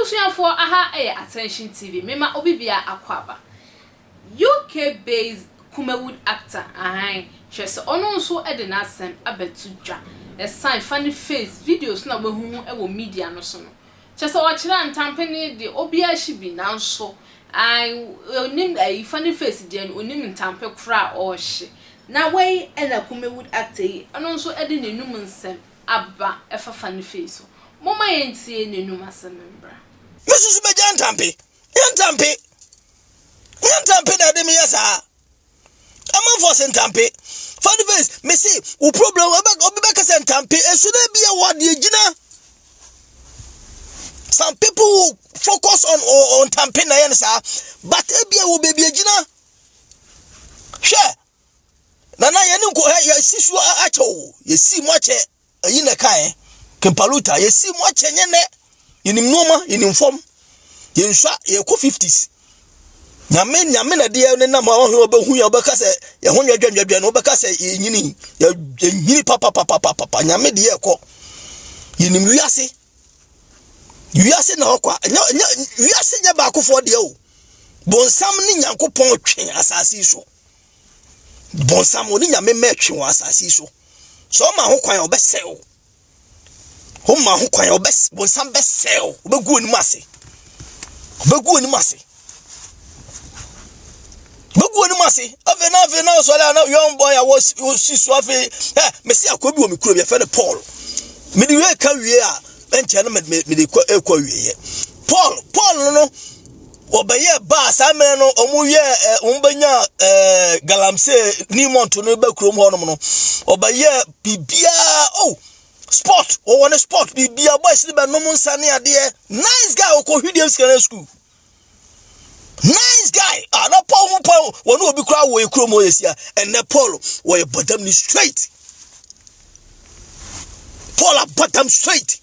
Abusuafoɔ aha yɛ Attention TV mema obi bia akɔ aba UK based Kumawood actor ahan kyerɛ sɛ ɔno nso de n'asɛm abɛto dwa ɛsan fa ne face videos no a wahu ho wɔ media no so no Kyerɛ sɛ ɔkyerɛ ntampe no de obiara hye bi nanso ae onim ayi funny face deɛ no onim ntampe korɔ a ɔrehye. Na wei na Kumawood actor yi ɔno nso de n'anum nsɛm aba ɛfa funny face so. Momma yɛntie n'anum asɛm mbra. Me susu bɛgya ntampe, nyɛ ntampe, nyɛ ntampe na ɛde me yɛ saa. ɛma fɔ sɛ ntampe fade face mese wo problem obi bɛka sɛ ntampe ɛsu no bi ɛwɔ adeɛ gyina some people will focus on on ntampe na ɛyɛ no saa but ebi ɛwɔ baabi agyina hwɛ nana yɛne nkɔ yɛsi so akyɛ o yɛsi mu akyɛ Eyi na ɛkae, Kempaluta, yɛasi mu akyɛ nyɛ nɛ. Yɛnim nnoɔma, yɛnim fam. Yɛnsua, yɛkɔ 50s. Nyame, nyame na deɛ ne nam a wɔhwɛ wɔbɛhu yɛ wɔbɛka sɛ yɛho nyɛ dwɛndwɛdwɛ no wɔbɛka sɛ yɛnyini, yɛnyini papapapapapa, nyame deɛ ɛkɔ. Yɛnim wiase. Wiase na ɔkwa, wiase nyɛ baakofoɔ deɛ o. Bonsam ne Nyankopɔn twe asase so. bɔnsam ɔne nyame mma ɛtwe wɔ asase yi so sɛ ɔma ho kwan a ɔbɛsɛe wo ɔma ho kwan a ɔbɛs bɔnsam bɛsɛe wo ɔbɛgu anim ase ɔbɛgu anim ase ɔbɛgu anim ase afei na afei na ɔsɔre a na young boy a wɔsi so afei ɛ mesi akɔ bi wɔ me kuro bi yɛfɛ no paul mede wie ka wie a ɛnkyɛ no mede kɔ ɛkɔ wieɛ paul paul no no wɔbɛyɛɛ baa saa mmerɛ no wɔyɛɛ eh, wɔbɛnyaa eh, galamsey new month no ba kurom hɔnom no wɔbɛyɛɛ biribiaa oh sport wɔwɔ ne sport biribiaa boys no bɛnom nsa ne adeɛ nice guy wɔkɔ hwideɛ sikana school nice guy a ah, na paul ho paul wɔne obi koraa wɔ ɛkurom hɔ yɛsia ɛnɛ paul wɔyɛ badam ne straight paul abadam straight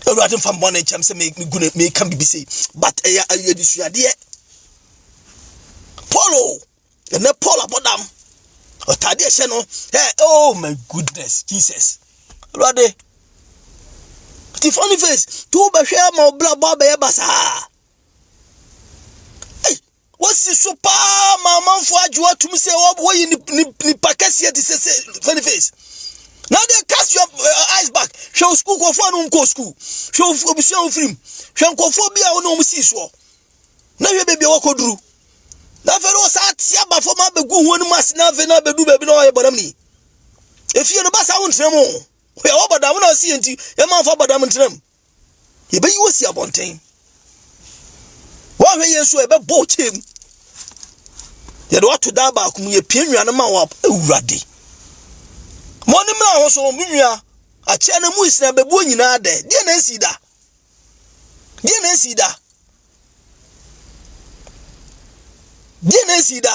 awurade mfa mbɔ ne nkyɛm sɛ megu ne meka biribi sei but ɛyɛ ɛyɛ adesuadeɛ paul o ɛnɛ paul abɔdam ɔtade ɛhyɛ no hey, oh my goodness jesus awurade ti funny face tó bɛhwɛ ama ɔbla bɔ abɛyɛ basaa. Wasi so paa ma amanfoɔ agye atum sɛ wɔyɛ nipa kɛseɛ te sɛ sɛ funny face. Now they cast your uh, eyes back. Hwɛ wo school kɔfoɔ no nkɔ school. Hwɛ obusua wo firim. Hwɛ nkɔfoɔ bi a wo ne wɔn si soɔ. Na hwɛ baabi a wɔkɔ duru. Na afei no wɔsaa ate aba fam abɛgu wɔn anim ase na afei na abɛdu baabi na wɔyɛ bɔdam ni. Efie no basa wo ntena mu. Wɔyɛ wɔ bɔdam na ɔsi yɛn ti. Yɛn manfo abɔdam ntena mu. yɛbɛyi wo asi abɔnten woanhwɛ yie nso ɛbɛbɔ wo kyɛɛ mu yɛde wato dan baako mu yɛpie nnua no ma wɔ awurade mo ne mmra ho so mo nnua akyɛ no mu nsina bɛbuo nyinaa dɛ deɛ na ɛsi da deɛ na ɛsi da deɛ na ɛsi da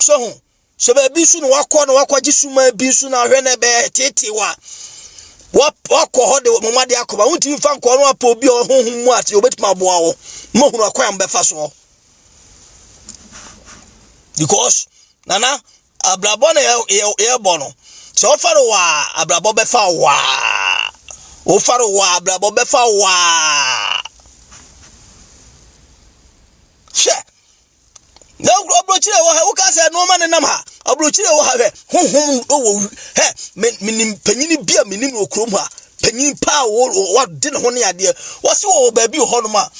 so ho sɛ baabi nso na wakɔ na wakɔgye suma bi nso na ahwɛ na ɛbɛyɛ teetee wa wakɔ hɔ de mo ma de akɔ ba wontumi fa nkɔ no apɔ obi a ɔhohom mu ate obetumi aboa wo mo hunu akwan bɛfa soɔ because nana Abrabɔ na yɛbɔ no. Sɛ wofa no waa, abrabɔ bɛfa waa. Wofa no waa, abrabɔ bɛfa waa. Hwɛ, na ɔburokyire wɔ ha, woka sɛ nneɛma ne nam ha. Ɔburokyire wɔ ha, hwɛ, honhom wɔ hɛ, menim panyini bi a menim wɔ kurom ha. Panyin paa wɔde ne ho ne adeɛ. Wɔsi wɔ baabi wɔ hɔnom a,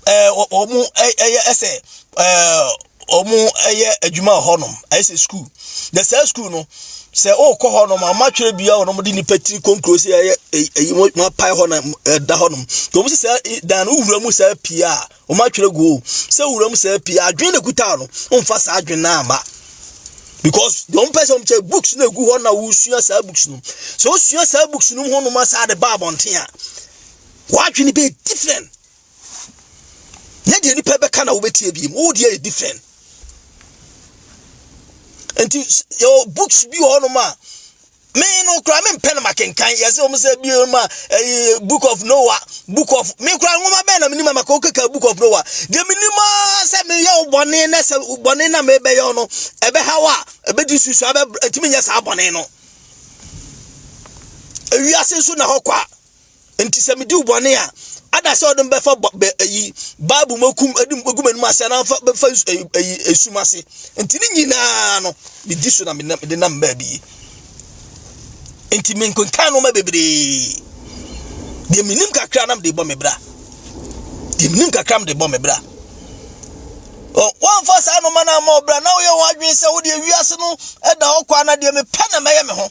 ɛɛ wɔn ɛyɛ ɛsɛ ɛɛ. wɔyɛ adwuma wɔ hɔnom ayɛ sɛ sukuu na saa sukuu no sɛ wokɔ hɔnom a wɔatwerɛ bia wɔ nom de nipa tiri konkro sɛ ɛyɛ ɛyi wɔapae hɔ na ɛda hɔnom nti wɔn sɛ saa dan no wura mu saa pii a wɔatwerɛ go sɛ wura mu saa pii adwene na kuta no wɔmfa saa adwene no ama because wɔn pɛ sɛ wɔn kyɛ books na egu hɔ na wosua saa books no sɛ wosua saa books no mu hɔnom asa de ba abɔnten a wɔadwene bɛ different nyɛ deɛ nipa bɛka na wobɛtie biem wo deɛ yɛ different nti yɛwɔ books bi wɔ hɔnom a me no kora me mpɛ no makenkan yɛsɛ wɔm sɛ bio ma eh, book of noah book of me kora nwoma bɛn na menim amaka wokeka book of noah deɛ menim a sɛ meyɛ wo bɔne na sɛ bɔne na mebɛyɛ no ɛbɛha wo a ɛbɛdi susua ɛtumi nyɛ saa bɔne no ewiase nso na hɔ kwa Enti sɛ medi wo bɔne a, ada sɛ ɔde bɛfa ayi Bible mu akum de gu m'anim ase anaa fa bɛfa ayi esum ase. Enti ne nyinaa no medi so na mede nam baabi yi. Enti menkenkan nneɛma bebree. Deɛ menim kakra nam de bɔ me bra. Deɛ menim kakra nam de bɔ me bra. Wɔmfa saa nneɛma no ama ɔbra na woyɛ wɔn adwene sɛ wodeɛ wiase no da hɔ kwa na deɛ mepɛ na mɛyɛ me ho.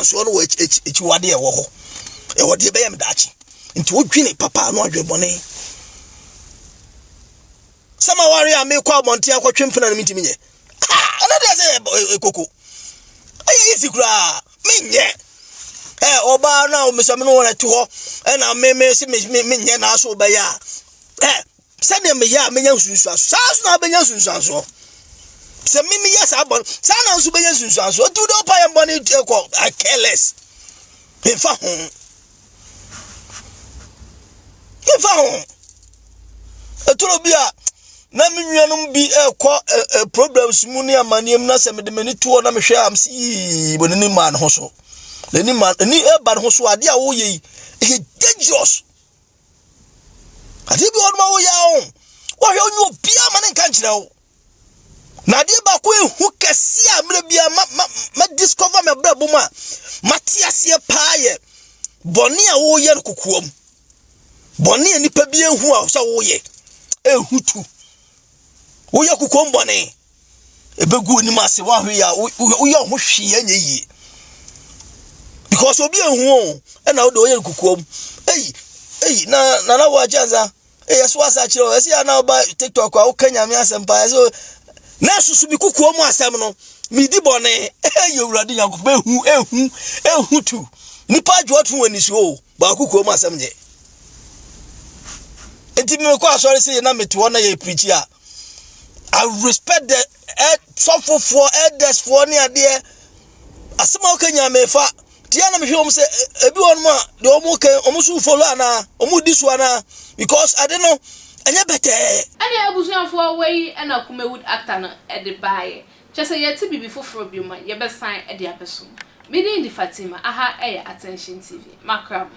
Nsuo no wɔ akyiwade a ɛwɔ hɔ. Ɛwɔ deɛ ɛbɛyɛ me daakye. Nti wodwene papa ano adwene bɔne. Sɛ ma ware a mekɔ abɔnten akɔtwe mpena no mentumi nyɛ. Ɛno deɛ sɛ koko. Ɛyɛ isi koraa. Menyɛ. Ɛ ɔbaa no a mesɛ me no wɔn ɛte hɔ ɛna me me se me menyɛ n'aso bɛyɛ a. Ɛ sɛdeɛ meyɛ a menya nsunsuansoɔ saa nso na wobɛnya nsunsuansoɔ sɛ me meyɛ saa bɔne saa na nso bɛnya nsunsuansoɔ nti wode wopa yɛ bɔne kɔ i care less memfa ho memfa ho ɛtoro bi a na me nuanom bi ɛkɔ eh, eh, problems mu ne amanneɛm na sɛ mede m'ani toɔ na mehwɛ am sɛ yii bɔ n'ani maa ne ho so n'ani maa ani ɛba ne ho so adeɛ a woyɛ yi ɛyɛ dangerous adeɛ bi wɔnom a woyɛ a ho wɔhwɛ wonyɛ obiaa ma ne nka nkyerɛ wo na adeɛ baako ɛhu kɛse a mmerɛ biaa ma, ma, ma discover me abrɛ bom a mate aseɛ paa yɛ bɔne a woyɛ no kokoam bɔne a nipa bi ɛhu a sɛ woyɛ ɛhu tu woyɛ kokoam bɔne ɛbɛgu onim ase woahwe yɛ a woyɛ wo ho hwee ɛnyɛ yie because obi ehu o ɛna wode ɔyɛ nkukuom eyi eyi na nana wɔ akyɛ nsa eyi ɛso asa akyerɛ o ɛsi ana ɔba tiktok a woka nyame asɛm paa ɛso na ɛsoso bi kukuo mu asɛm no medi bɔne ɛyɛ owurade nyankopɔn ehu ehu ehu tu nipa adwoɔ to wɔn nisuo o. Baako kurom asɛm nye. Nti me kɔ asɔre se na mete hɔ na yɛ preachi a. I respect the eh, sɔfofoɔ, elders-foɔ ne adeɛ. Asɛm a woka nyinaa mefa. Tia na mehwɛ wɔn sɛ eh, ebi wɔn a deɛ wɔn kan wɔn so follow anaa wɔn di so anaa because ade no ɛnyɛ bɛtɛɛ. Ɛne abusuafoɔ wei na Kumawood actor no de baeɛ. Kyɛ sɛ yɛte biribi foforɔ bio ma yɛbɛsan de abɛso. Me din de Fatima, aha yɛ Attention TV. Makra mo.